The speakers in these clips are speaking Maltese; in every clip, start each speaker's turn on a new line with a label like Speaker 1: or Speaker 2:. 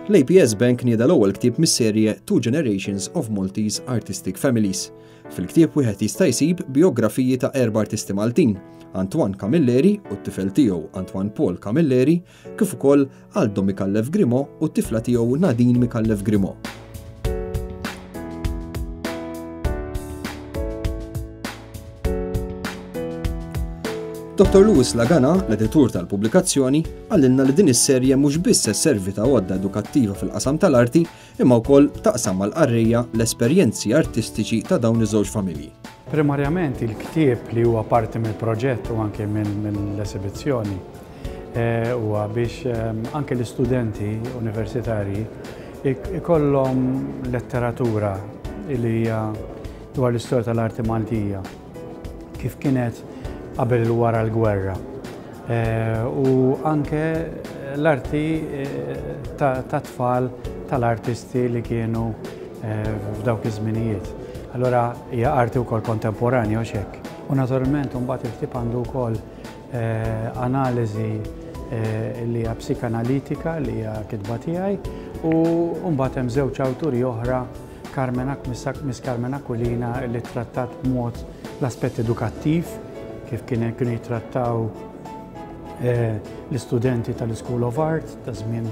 Speaker 1: L-APS Bank nieda l-ewwel ktieb mis-serje Two Generations of Maltese Artistic Families. Fil-ktieb wieħed jista' jsib biografiji ta' erba' artisti Maltin, Antoine Camilleri u t-tifel tiegħu Antoine Paul Camilleri, kif ukoll Aldo Micallef Grimaud u t-tifla tiegħu Nadine Micallef Grimaud. Dr. Louis Lagana, l-editur tal-pubblikazzjoni, għallinna li din is-serje mhux biss se servi ta' għodda edukattiva fil-qasam tal-arti, imma wkoll taqsam mal-qarrejja l-esperjenzi artistiċi ta' dawn iż-żewġ familji. Primarjament
Speaker 2: il-ktieb li huwa parti mill-proġett u anke mill-esibizzjoni eh, huwa biex ehm, anke l-istudenti universitarji ikollhom letteratura li hija dwar l-istorja tal-arti Maltija. kif kienet qabel u wara l-gwerra. U anke l-arti ta' tfal tal-artisti li kienu f'dawk iż-żminijiet. Allora hija arti wkoll kontemporanja u xekk. U naturalment mbagħad il-ktieb għandu wkoll analiżi li hija psikanalitika li hija kitba tiegħi u mbagħad hemm żewġ awturi oħra Carmen Akmisak, Miss Carmen Aquilina li ttrattat b'mod l-aspett edukattiv, kif kien kienu jittrattaw l-istudenti tal-School of Art ta' żmien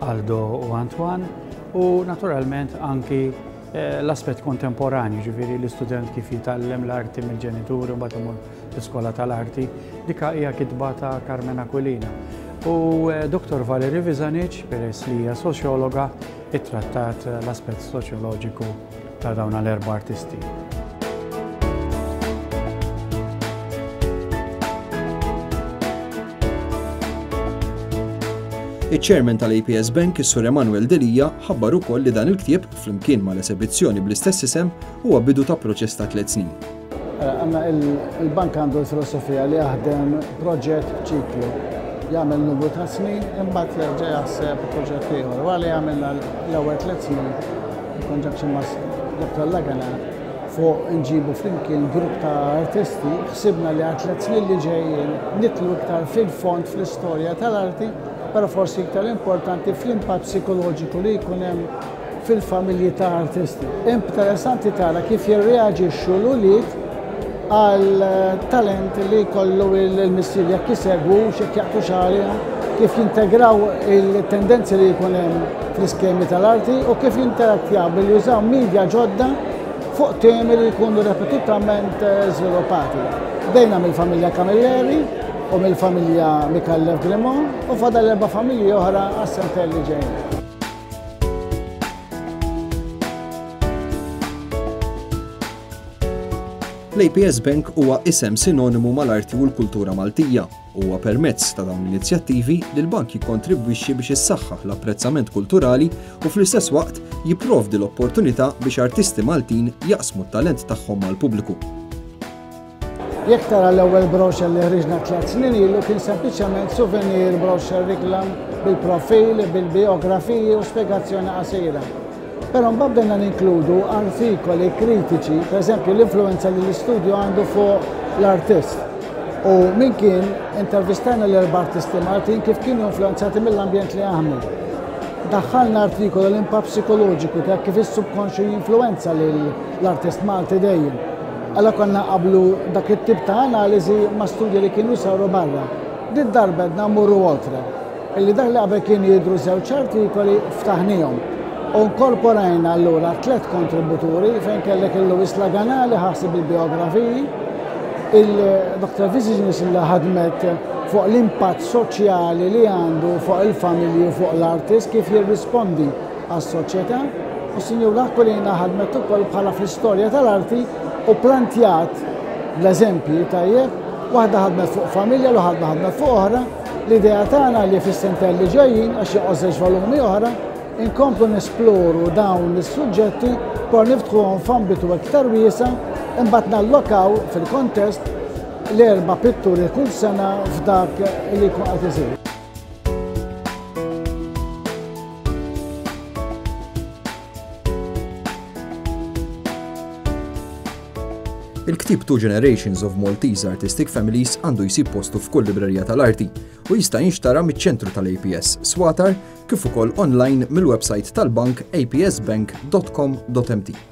Speaker 2: Aldo u Antoine, u naturalment anki l-aspett kontemporanju, ġifieri l-istudent kif jitgħallem l-arti mill-ġenituri u mbagħad imur l-iskola tal-arti. Dika hija kitba ta' Carmen Aquilina. U Dottor Valerie Visanich, peress li hija soċjologa, ittrattat l-aspett soċjoloġiku ta' dawn l-erba' artisti.
Speaker 1: Iċ-Chairman tal-APS Bank, is-Sur Emanuel Delija, ħabbar ukoll li dan il-ktieb, flimkien mal-esebizzjoni bl-istess isem, huwa bidu ta' proċess ta' tliet snin. Għanna
Speaker 3: il-bank għandu l-filosofija li jaħdem proġett ċiklu. Jagħmel numru ta' snin, imbagħad jerġa' jaħseb proġett ieħor. Għalli għamilna l-ewwel tliet snin konġaċi ma' Dr. Lagana fuq nġibu flimkien grupp ta' artisti, ħsibna li għat tliet snin li ġejjin nitlu iktar fil-fond fl-istorja tal-arti, però forsi iktar importanti fl-impatt psikoloġiku li jkun hemm fil-familji ta' artisti. Interessanti tara kif jirreaġixxu l-ulied għal talent li jkollu l-missier jekk isegwu x'jekk jaqtu xagħrihom, kif jintegraw il-tendenzi li jkun hemm fl-iskemi tal-arti u kif jinterattjaw billi jużaw media ġodda fuq temi li jkunu repetutament eh, żviluppati. Bdejna mill-familja Camilleri u mill-familja Mikallev Grimon u fadal erba' familji oħra għas-sentejn li ġejjin.
Speaker 1: L-APS Bank huwa isem sinonimu mal-arti u l-kultura Maltija. Huwa permezz ta' dawn l-inizjattivi li l-bank jikkontribwixxi biex issaħħaħ l-apprezzament kulturali u fl-istess waqt jipprovdi l-opportunità biex artisti Maltin jaqsmu t-talent tagħhom mal-pubbliku.
Speaker 3: Jekk tara l-ewwel brochure li ħriġna tliet snin ilu kien sempliċement souvenir brochure reklam bil-profil, bil-bijografiji u spjegazzjoni qasira. Però mbagħad bdejna ninkludu artikoli kritiċi, pereżempju l-influenza li l-istudju għandu fuq l-artist. U min kien intervistajna l-erba' artisti Maltin kif kienu influenzati mill-ambjent li jaħdmu. Daħħalna artikolu l-impatt psikoloġiku ta' kif is-subkonxju jinfluenza lill-artist Malti dejjem. Għala konna nqabblu dak it-tip ta' analiżi ma' studji li kienu saru barra? Did-darba għedna mmorru oltre, illi dak li qabel kien jidhru żewġ artikoli ftaħniehom u nkorporajna allura tliet kontributuri fejn kellek il-Louis Laganà li ħaseb il-biografiji, il-Dr. Vizignus li ħadmet fuq l-impatt soċjali li għandu fuq il-familji u fuq l-artist kif jirrispondi għas-soċjetà u s-Sinjura Aquilina ħadmet ukoll bħala fl-istorja tal-arti u pplanjat l-eżempji tajjeb, waħda ħadmet fuq familja l ħadna ħadmet fuq oħra, l-idea tagħna li fis-sentell li ġejjin għax joqgħożex volumi oħra, inkomplu nesploru dawn is-suġġetti por niftħuhom f'ambitu iktar wiesa imbagħad nallokaw fil-kontest l-erba' pitturi kull sena f'dak li jkun qed isir.
Speaker 1: Il-ktib Two Generations of Maltese Artistic Families għandu jsib postu f'kull librerija tal-arti u jista' jinxtara miċ-ċentru tal-APS Swatar kif ukoll online mill-website tal-bank apsbank.com.mt.